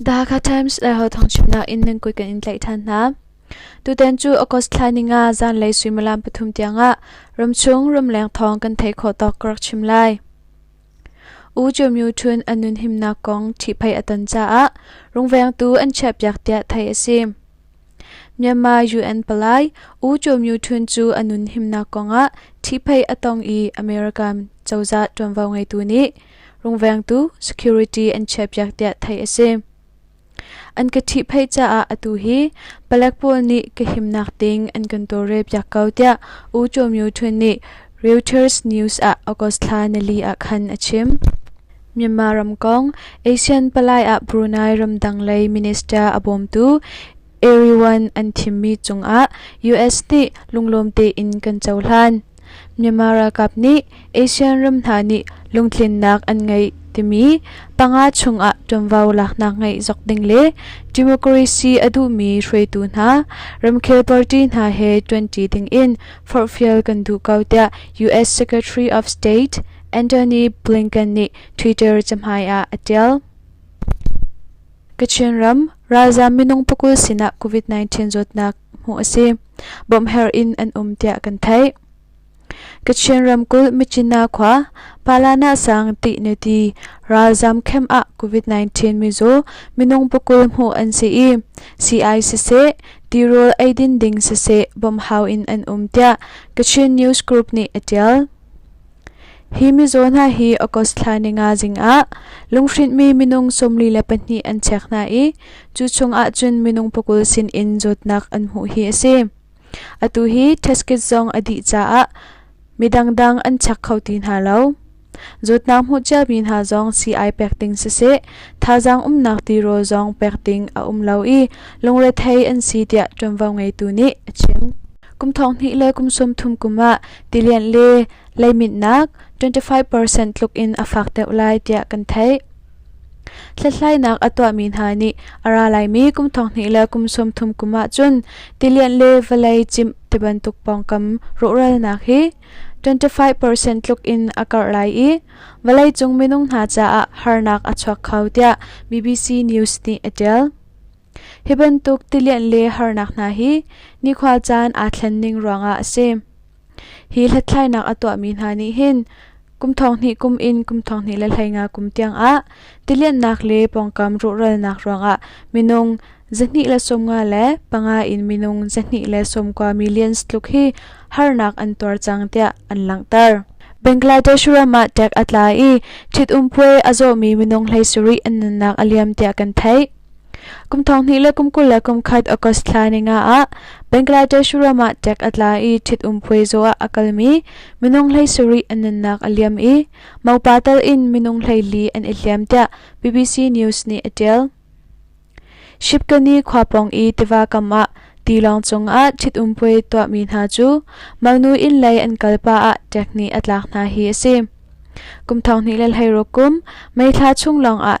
Dhaka Times le Hothawng chimnak in ningkui kan in tlaih ṭhan hna. Tutan cu August thla ni nga zanlei suimilam pathum tiangah ramchung ramleng thawng kan thei khawh tawk ka rak chim lai. U Jomyu Chun an nun himnak kong ṭhihphai a ton caah rungvengtu an chiahpiak tiah theih a si. Myanmar UN palai U Cho Myu Htun cu a nun himnak kongah ṭhihphei a tong i America cozah ṭuanvo ngeitu nih rungvengtu security an chiahpiak tiah theih a si. An ka ṭhihphei caah atu hi palek pawl nih ka himnak ding an kan tawlrel piak ko tiah U Cho Myu Htun nih Reuters news ah August thla nali ah khan a chim. Myanmar ramkong ASEAN palai ah Brunei ramdang lei minister a bawmtu Eriwan an thimmi cungah US nih lunglawm tein kan cohlan. Myanmar ralkap nih ASEAN ram hna nih lungtlinnak an ngeih timi panga chungah ṭuanvo laknak ngeih zok ding le democracy a duhmi hruaitu hna ramkhel party hna he ṭuanṭi dingin forhfial kan duh ko tiah US Secretary of State Antony Blinken nih Twitter cahmai ah a ṭial. Kachin ram ralzaam minung pakul sinah COVID-19 zawtnak hmuh a si. Bawmhher in an um tiah kan theih. Kachin ramkulh Michina khua Palana sang ti neti ralzaam khem ah COVID-19 mizaw minung pakul hmuh an si i CI siseh tirawl eidin ding siseh bawmhau in an um tiah Kachin News Group nih a ṭial. Hi mizaw hna hi August thla ni nga zing ah lunghrintmi minung sawmli le pahnih an check hna i cu chungah cun minung pakul sin in zawtnak an hmuh hi a si. Atu hi test kit zong a dih caah midangdang an check kho ti hna lo. Zawtnak hmuh ciami hna zong sii ai pek ding siseh, thazaang umnak tirawl zong pek ding a um lo i lungrethei an si tiah ṭuanvo ngeitu nih a chim. Kum thong hnih le kum sum thum kum ah tilian le leiminnak 25 percent tluk in a fak deuh lai tiah kan theih. Hlathlainak a tuahmi hna nih a ra laimi kum thong hnih le kum sum thum kum ah cun tilian le vawlei cimh ti bantuk pawngkam rawhralnak hi 25 percent tluk in a karh lai i vawleicung minung hna caah harnak a chuak kho tiah BBC News nih a ṭial. Hi bantuk tilianh le harnak hna hi nikhua caan aa thlen ning ruangah a si. Hi hlathlainak a tuahmi hna nih hin kum thonghnih kum in kum thonghnih le hleinga kum tiangah tilianhnak le pawngkam ruhralnak ruangah minung zahnih le sawmnga le panga in minung zahnih le sawmkua millions tluk hi harnak an tuar cang tiah an langhter. Bangladesh ram ah tek a tla i ṭhitum puai a zawmi minung hlei sarih an nunnak a liam tiah kan theih. Kum thong hnih le kum kul le kum khat August thla ninga ah Bangladesh ram ah tek a tla i ṭhitum puaizaw ah a kalmi minung hlei sarih an nunnak a liam i mopa tal in minung hlei li an i hliam tiah BBC News nih a ṭial. Shibkani khua pawng i tiva kam ah tilawng cung ah ṭhitum puai tuahmi hna cu mangnu inn lei an kalpa ah tek nih a tlak hna hi a si. Kum thong hnih le hleiruk kum meithla chung lawng ah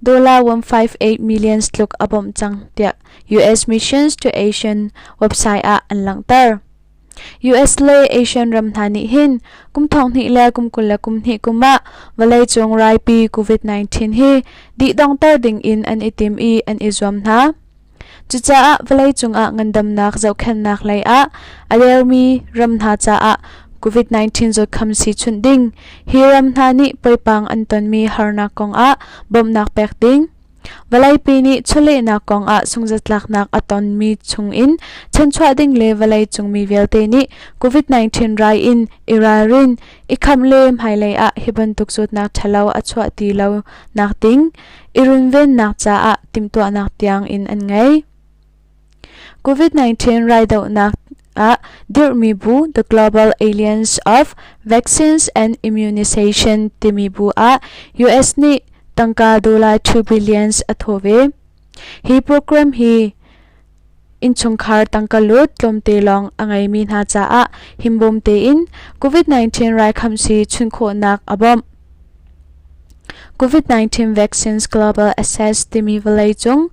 Dollar 158 millions tluk a bawmh cang tiah US Missions to Asian website ah an langhter. US le Asian ram hna nih hin kum thong hnih le kum kul le kum hnih kum ah vawleicung raipi COVID-19 hi dihdongter ding in an i tim i an i zuam hna. Cucaah vawlei cungah ngandamnak zohkhenhnak lei ah a dermi ram hna caah COVID-19 zawtkham si chunh ding, hi ram hna nih poipang an tonmi harnak kongah bawmhnak pek ding, vawleipi nih chawlehnak kongah sungzatlaknak a tonmi chungin chanchuah ding le vawlei cungmi vialte nih COVID-19 rai in i ralrin, I khamh le hmailei ah hi bantuk zawtnak ṭhalo a chuah ti lo nakding i runvennak caah timhtuahnak tiang in an ngei. COVID-19 raidohnak ah dirhmi bu The Global Alliance of Vaccines and Immunization timi bu ah US nih tangka dollar 2 billions a thawh ve. Hi program hi Innchungkhar tangka lut tlawmte lawng a ngeimi hna caah himbawm tein COVID-19 raikhamsi chun khawhnak a bawmh. COVID-19 Vaccines Global Access timi vawleicung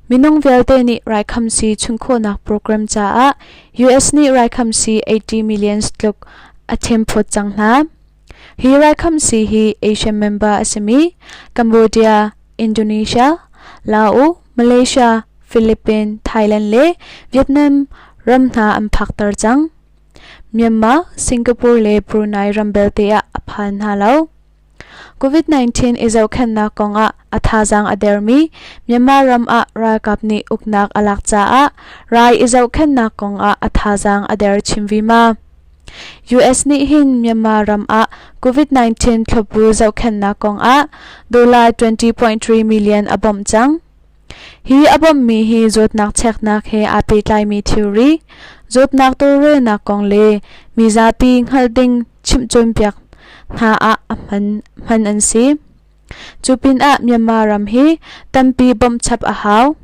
minung vialte nih raikhamsi chun khawhnak program caah US nih raikhamsi 80 million tluk a themphawt cang hna. Hi raikhamsi hi Asia member a simi Cambodia, Indonesia, Laos, Malaysia, Philippines, Thailand le Vietnam ram hna an phakter cang. Myanmar, Singapore le Brunei ram belte ah a phan hna lo. COVID-19 i zohkhennak kongah a thazaang a dermi Myanmar ram ah ralkap nih uknak a lak caah rai i zohkhennak kongah a thazaang a der chin vima. US nih hin Myanmar ram ah COVID-19 thlawpu zohkhenhnak kongah dollar 20.3 million a bawmh cang. Hi a bawmmi hi zawtnak cheknak he aa pehtlaimi thilri, zawtnak tawlrelnak kong le mi zapi hngalh ding chimhcawnpiak hna ah hman an si. Cu pinah Myanmar ram hi tampi bawmh chap a hau.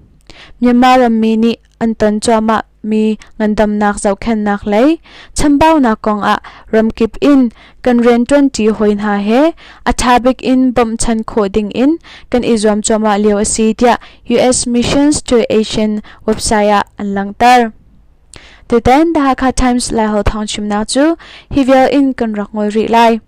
Myanmar rammi nih an ton cuahmah mi ngandamnak zohkhenhnak lei chambaunak kongah ramkip in kan rianṭuanṭi hawi hna he a ṭha bik in bawmhchan khawh dingin kan i zuam cuahmah lio a si tiah US Missions to Asian website ah an langhter. Tutan The Hakha Times Lai Ho thawng chimnak cu hi vial in kan rak ngol rih lai.